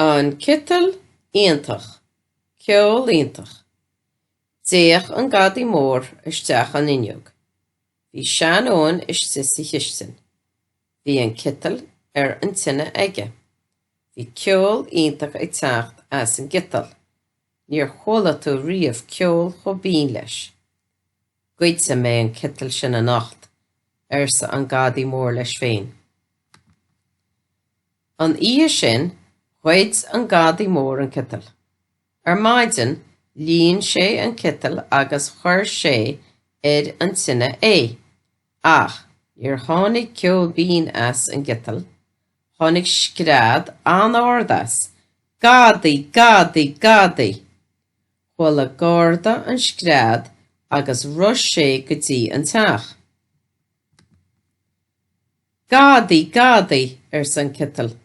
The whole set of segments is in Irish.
An citeal iontach, ceol iontach. D'fhéach an Gadaí Mór isteach an fhuinneog. Bhí sean-Eoin istigh sa chistin. Bhí an citeal ar an tine aige. Bhí ceol iontach ag teacht as an gciteal. Níor chuala tú riamh ceol chomh binn leis. Goidfidh mé an citeal sin anocht, arsa an Gadaí Mór leis féin. An oíche sin, ghoid an Gadaí Mór an citeal. Ar maidin, líon sé an citeal agus chuir sé ar an tine é. Ach níor tháinig ceol binn as an gciteal. Tháinig scread an-ard as, Gadaí! Gadaí! Gadaí! Chuala garda an scread agus rith sé go dtí an teach. Gadaí! Gadaí! arsa an citeal.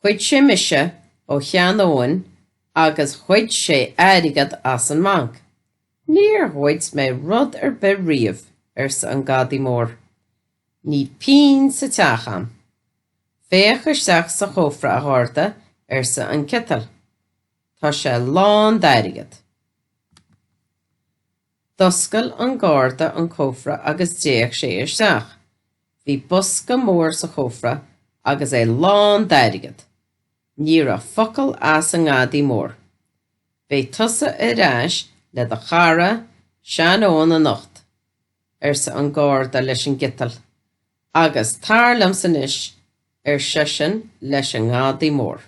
Ghoid sé mise ó shean-Eoin agus ghoid sé airgead as an mbanc. Níor ghoid mé rud ar bith riamh, arsa an Gadaí Mór. Níl pingin sa teach agam. Féach isteach sa chófra, a gharda, arsa an citeal. Tá sé lán d'airgead. D'oscail an garda an cófra agus d'fhéach sé isteach. Bhí bosca mór sa chófra agus é lán d'airgead. Ní raibh focal as an nGadaí Mór. Beidh tusa ar ais le do chara, sean-Eoin anocht, arsa an garda leis an gciteal. Agus tar liomsa anois, ar seisean leis an nGadaí Mór.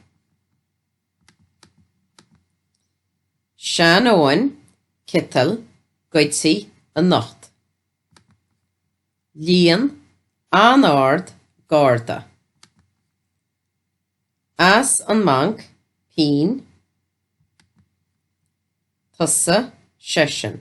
Sean-Eoin, Citeal, Goidfidh anocht. Líon an-ard Garda. As an mbanc, pingin. Tusa, seisean.